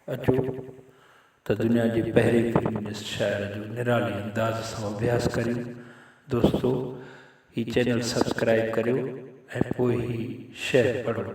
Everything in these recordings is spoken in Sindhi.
اچو ته دنيا جي پهرين فيمنسٽ شاعره جو نرالي انداز سان اڀياس ڪريون دوستو هي چينل سبسڪرائيب ڪريو ۽ پوء هي شعر پڙهو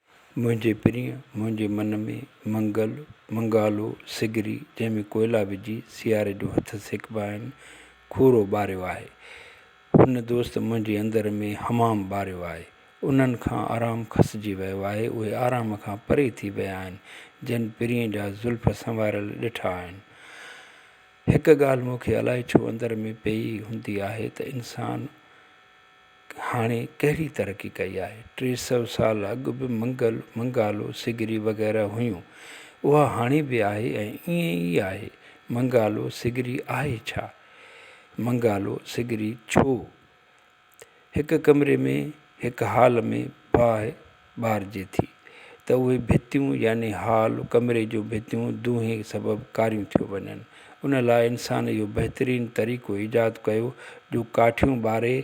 منهنجي پرينء منهنجي من ۾ منگل، منگالو، سگري جنهن ۾ ڪوئلا وجهي سياري جو هٿ سيڪبا آهن، کورو ٻاريو آهي. هن دوست منهنجي اندر ۾ حمام ٻاريو آهي. انهن کان آرام کسجي ويو آهي. اهي آرام کان پري ٿي ويا آهن، جن پرينء جا زلف سنواريل ڏٺا آهن. هڪ ڳالهه مون کي الائي ڇو اندر ۾ پيئي هوندي آهي ته انسان. هاڻي ڪهڙي ترقي ڪئي آهي. ٽي سؤ سال اڳ به منگل، منگالو، سگري وغيره هيون. اها هاڻي به آهي ۽ ائين ئي آهي. منگالو سگري آهي ڇا؟ منگالو سگري ڇو هڪ ڪمري ۾ هڪ هال ۾ باهه ٻارجي ٿي ته اهي ڀتيون يعني هال، ڪمري جون ڀتيون، دونهي سبب ڪاريون ٿيون وڃن. ان لاء انسان اهو بهترين طريقو ايجاد ڪيو جو ڪاٺيون ٻاري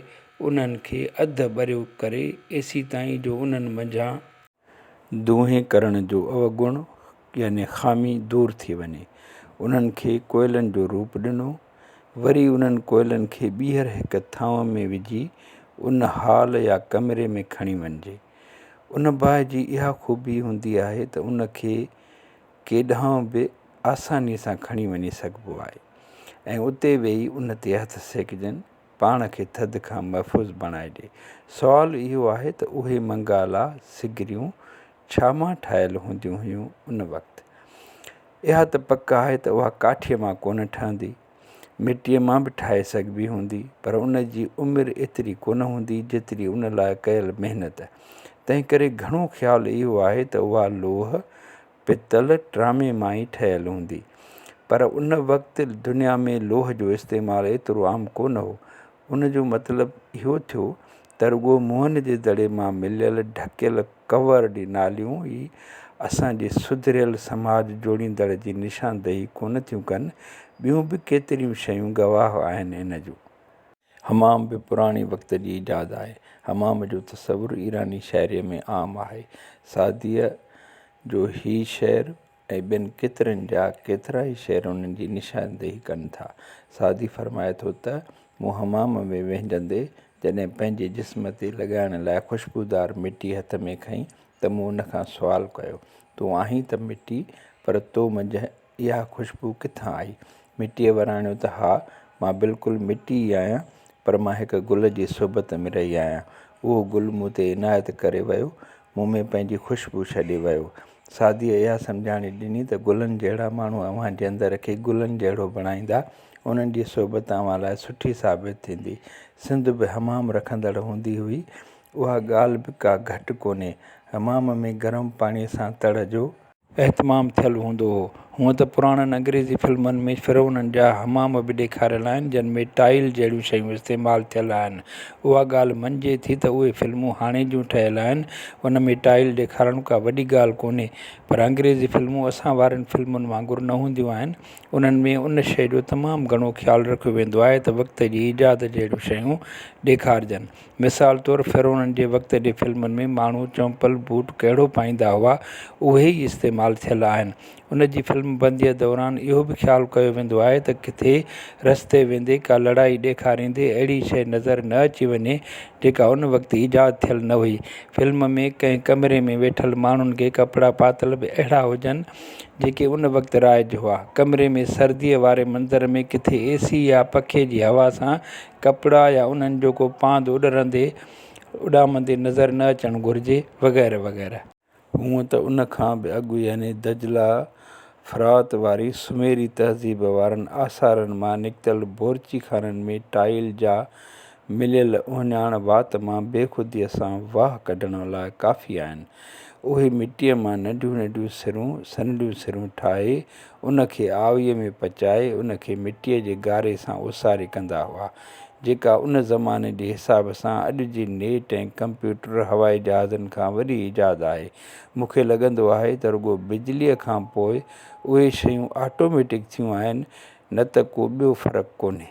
انهن کي اڌ ٻريو ڪري ايسي تائين جو انهن منجهان، دونهي ڪرڻ جو اوگڻ يعني خامي دور ٿي وڃي. انهن کي ڪوئلن جو روپ ڏنو. وري انهن ڪوئلن کي ٻيهر هڪ ٿانو ۾ وجهي ان هال يا ڪمري ۾ کڻي وڃجي. ان باهه جي اها خوبي هوندي آهي ته ان کي ڪيڏانهن به آساني سان کڻي وڃي سگهبو آهي ۽ اتي ويهي ان تي هٿ سيڪجن پاڻ کي ٿڌ کان محفوظ بڻائي ڏي. سوال اهو آهي ته اهي منگالا سگريون ڇا مان ٺاهيل هونديون هيون ان وقت؟ اها ته پڪ آهي ته اها ڪاٺيء مان ڪونه ٺهندي. مٽيء مان به ٺاهي سگهبي هوندي پر ان جي عمر ايتري ڪونه هوندي جيتري ان لاء ڪيل محنت. تنهنڪري گهڻو خيال اهو آهي ته اها لوهه، پتل ٽرامي مان ئي ٺهيل هوندي. پر ان وقت دنيا ۾ لوهه جو استعمال ايترو عام ڪونه هو. ان جو مطلب اهو ٿيو ته رڳو منهن جي دڙي مان مليل ڍڪيل ڪور ڙي ناليون ئي اسان جي سڌريل سماج جوڙيندڙ جي نشاندهي ڪونه ٿيون ڪن، ٻيون به ڪيتريون شيون گواهه آهن ان جون. حمام به پراڻي وقت جي ايجاد آهي. حمام جو تصور ايراني شاعريء ۾ عام آهي. سعديء جو هي شعر ۽ ٻين ڪيترن جا ڪيترائي شعر ان جي نشاندهي ڪن ٿا. سعدي فرمائي ٿو ته، مون حمام ۾ وهنجندي جڏهن پنهنجي جسم تي لڳائڻ لاء خوشبودار مٽي هٿ ۾ کنئي ته مون ان کان سوال ڪيو، تون آهين ته مٽي پر تو منجهه اها خوشبو ڪٿان آئي؟ مٽيء وراڻيو ته ها، مان بلڪل مٽي ئي آهيان، پر مان هڪ گل جي صحبت ۾ رهي آهيان. اهو گل مون تي عنايت ڪري ويو، مون ۾ پنهنجي خوشبو ڇڏي ويو. سعديء اها سمجهاڻي ڏني ته گلن جهڙا ماڻهو اوهان جي اندر کي گلن جهڙو بڻائيندا، انهن جي صحبت اوهان لاء سٺي ثابت ٿيندي. سنڌ به حمام رکندڙ هوندي هئي، اها ڳالهه به ڪا گهٽ ڪونهي. حمام ۾ گرم پاڻيء سان تڙ جو. اهتمام ٿيل هوندو هو. هونئن ته پراڻن انگريزي فلمن ۾ فرعونن جا حمام به ڏيکاريل آهن، جن ۾ ٽائيل جهڙيون شيون استعمال ٿيل آهن. اها ڳالهه مڃجي ٿي ته اهي فلمون هاڻي جون ٺهيل آهن، ان ۾ ٽائيل ڏيکارڻ ڪا وڏي ڳالهه ڪونهي. پر انگريزي فلمون اسان وارين فلمن وانگر نه هونديون آهن. انهن ۾ ان شيء جو تمام گهڻو خيال رکيو ويندو آهي ته وقت جي ايجاد جهڙيون شيون ڏيکارجن. مثال طور فرعونن جي وقت جي فلمن ۾ ماڻهو چمپل بوٽ ڪهڙو پائيندا هئا اهي ئي استعمال ٿيل آهن ان جي فلم بنديء دوران اهو به خيال ڪيو ويندو آهي ته ڪٿي رستي ويندي ڪا لڙائي ڏيکاريندي اهڙي شيء نظر نه اچي وڃي جيڪا ان وقت ايجاد ٿيل نه هئي فلم ۾ ڪنهن ڪمري ۾ ويٺل ماڻهن کي ڪپڙا پاتل به اهڙا هجن جيڪي ان وقت رائج هئا ڪمري ۾ سرديء واري منظر ۾ ڪٿي اي سي يا پکي جي هوا سان ڪپڙا يا انهن جو ڪو پاند اڏرندي اڏامندي نظر نه اچڻ گهرجي وغيره وغيره. هونء ته ان کان به اڳ يعني دجله فرات واري سميري تهذيب وارن آثارن مان نڪتل بورچي خانن ۾ ٽائيل جا مليل اهڃاڻ وات مان بي خوديء سان واهه ڪڍڻ لاء ڪافي آهن. اهي مٽيء مان ننڍيون ننڍيون سرون سنهڙيون سرون ٺاهي ان کي آويء ۾ پچائي ان کي مٽيء جي گاري سان اوساري ڪندا هئا، جيڪا ان زماني جي حساب سان اڄ جي نيٽ ۽ ڪمپيوٽر هوائي جهازن کان وڏي ايجاد آهي. مون کي لڳندو آهي ته رڳو بجليء کان پوء اهي شيون آٽوميٽڪ ٿيون آهن، نه ته ڪو ٻيو فرق ڪونهي.